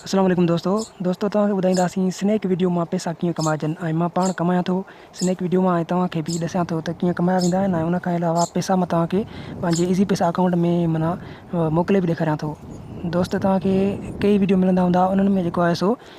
السلام عليڪم دوستو دوستو توهان کي ٻڌائينداسين سنيڪ ويڊيو مان پئسا ڪيئن ڪمائجن ۽ مان پاڻ ڪمايان ٿو سنيڪ ويڊيو مان ۽ توهان کي به ڏسان ٿو ته ڪيئن ڪمايا ويندا آهن ۽ ان کان علاوه پئسا مان توهان کي پنهنجي ايزي پئسا اڪائونٽ ۾ منا موڪلي به ڏيکاريان ٿو دوست توهان کي ڪيئي ويڊيو ملندا هوندا انهن ۾ جيڪو آهي سو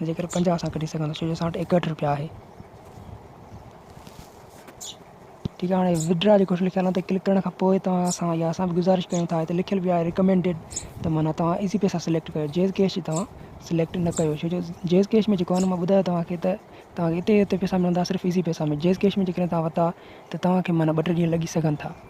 ۽ جيڪر پنجاهه سان ڪڍي سگهندو ڇو جو اسان وٽ ايڪهٺ روپيا آهي ٺيڪ آهي هاڻي وڊرا جيڪو ڪجهه لکيل آهي تي ڪلڪ ڪرڻ کان پوء توهان اسان يا اسان به گذارش ڪيون ٿا هتي لکيل به آهي ريڪمينڊيڊ ته معنيٰ توهان ايزي پيسا سليڪٽ ڪيو جيز ڪيش توهان سليڪٽ نه ڪيو ڇو جو جيز ڪيش ۾ جيڪو آهي مان ٻڌايو توهانکي ته توهانکي هتي هتي پيسا ملندا صرف ايزي پيسا ۾ جيز ڪيش ۾ جيڪڏهن توهان ورتا ته توهانکي معنيٰ ٻه ٽي ڏينهن لڳي سگهن ٿا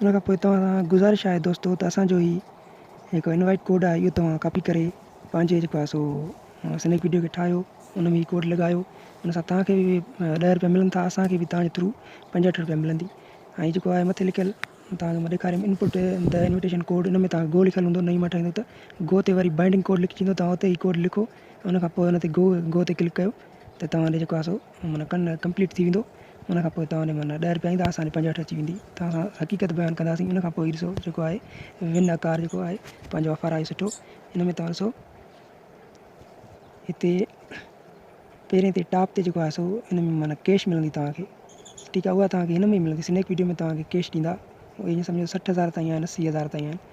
ان کان پوء توهان سان گذارش آهي دوستو ته اسان جو هي جيڪو انوائيٽ ڪوڊ آهي اهو توهان ڪاپي ڪري پنهنجي جيڪو آهي سو سنيڪ وڊيو کي ٺاهيو ان ۾ هي ڪوڊ لڳايو ان سان توهان کي به ڏهه روپيا ملن ٿا اسان کي به توهان جي ٿرو پنجهٺ روپيا ملندي ۽ جيڪو آهي مٿي لکيل توهان کي مان ڏيکاريم انپوٽ ته انويٽيشن ڪوڊ ان ۾ توهان کي گو لکيل هوندو نئي ماڻهو ٺاهيندو ته گو تي وري بائنڊنگ ڪوڊ لکجي ٿو توهان اتي هي ڪوڊ لکو ان کان پوء ان تي گو گو تي ڪلڪ ڪيو ته توهان ڏي جيڪو آهي سو معنيٰ ڪن ڪمپليٽ ٿي ويندو ان کان پوء توهان ڏي معنيٰ ڏهه رپيا ايندا اسان ڏي پنجهٺ اچي ويندي ته اسان حقيقت بيان ڪنداسين ان کان پوء هي ڏسو جيڪو آهي ون اڪار جيڪو آهي پنهنجو آفر آهي سٺو ان ۾ توهان ڏسو هتي پهرين تي ٽاپ تي جيڪو آهي سو ان ۾ معنيٰ ڪيش ملندي توهانکي ٺيڪ آهي اها توهانکي هن ۾ ملندي سنيڪ ويڊيو ۾ توهانکي ڪيش ڏيندا ائين سمجهو سٺ هزار تائين آهن اسي هزار تائين آهن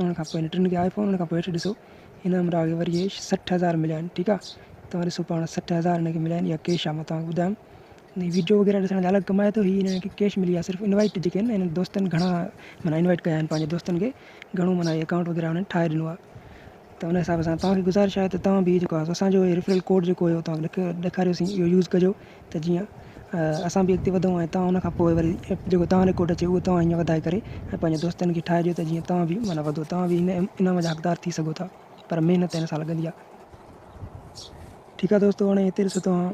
ان کان پوء هن ٽن کي آئي فون ان کان پوء هيٺ ڏسو هن عمرا کي وري اهي سٺ هزار مليا آهن ٺيڪ آهي توهان ڏسو پاڻ سٺ هزار هن کي مليا آهن اها ڪيش آهي مان توهان کي ٻڌايم هي ويڊيو وغيره ڏسڻ جا الڳ ڪمائي ٿو هي هن کي ڪيش ملي آهي صرف انوائٽ جيڪي آهن هن دوستن گهڻا معنيٰ انوائٽ ڪيا آهن پنهنجي دوستن کي گهڻو معنيٰ اڪائونٽ وغيره هنن ٺاهي ڏنو آهي ته ان حساب سان توهان کي گذارش آهي ته توهان به جيڪو آهي اسان جو ريفرل ڪوڊ جيڪو هيو توهان کي ڏيکاريوسين اهو يوز ڪجو ته جيئن اسان به اڳتي وڌون ۽ توهان ان کان پوء وري جيڪو توهان جو ڪوڊ اچي اهو توهان هيئن وڌائي ڪري ۽ پنهنجي دوستن کي ٺاهي ڏيو ته جيئن توهان به معنيٰ وڌو توهان به هن انعام جا حقدار ٿي سگهو ٿا پر محنت هن سان لڳندي آهي ٺيڪ آهي دوستو هاڻي هتي ڏسو توهان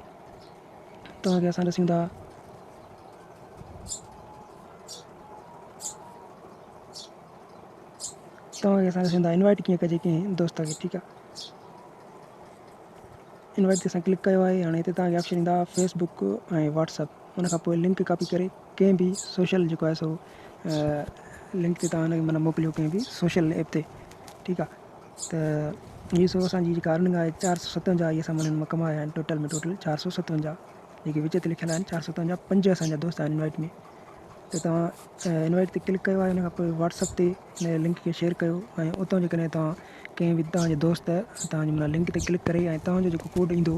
توهان کي اسان ڏسيون ٿا توهان کي اسان ڏسندا انوائٽ ڪيئن ڪجي ڪنهن دوست کي ٺيڪ آ. انوائٽ تي اسان ڪلڪ ڪيو آهي هاڻي هتي توهان کي آپشن ايندا فيس بڪ ۽ واٽس اپ ان کان پوء لنڪ ڪاپي ڪري ڪنهن به سوشل جيڪو آهي سو لنڪ تي توهان مطلب موڪليو ڪنهن به سوشل ايپ تي ٺيڪ آ ته هي سو اسانجي جيڪا ارننگ آهي چار سؤ ستونجا اهي اسان مهينن مان ڪمايا آهن ٽوٽل ۾ ٽوٽل چار سؤ ستونجا جيڪي وچ تي لکيل آهن چار سؤ ستونجا پنج اسانجا دوست آهن انوائٽ ۾ ته توهان انوائٽ تي ڪلڪ ڪيو آهي ان کان پوء واٽسپ تي ان لنڪ کي شيئر ڪيو ۽ اتو جيڪڏهن توهان ڪنهن به تهان جي دوست توهان جي لنڪ تي ڪلڪ ڪري ۽ توهان جو جيڪو ڪوڊ ايندو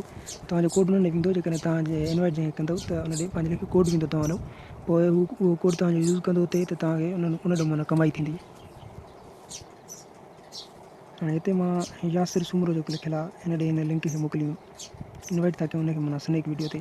توهان جو ڪوڊ ان ڏي ويندو جيڪڏهن توهان جي انوائٽ جنهن کي ڪندو ته ان ڏي پنهنجي لک ڪوڊ ويندو توهان جو پوء هو اهو ڪوڊ توهان جو يوز ڪندو اتي ته توهان کي ان ان ڏو معنيٰ ڪمائي ٿيندي. هاڻي هتي مان ياسر سومرو جيڪو لکيل آهي ان ڏي هن لنڪ کي موڪليون انوائٽ ٿا ڪيون ان کي معنيٰ سنيڪ وڊيو تي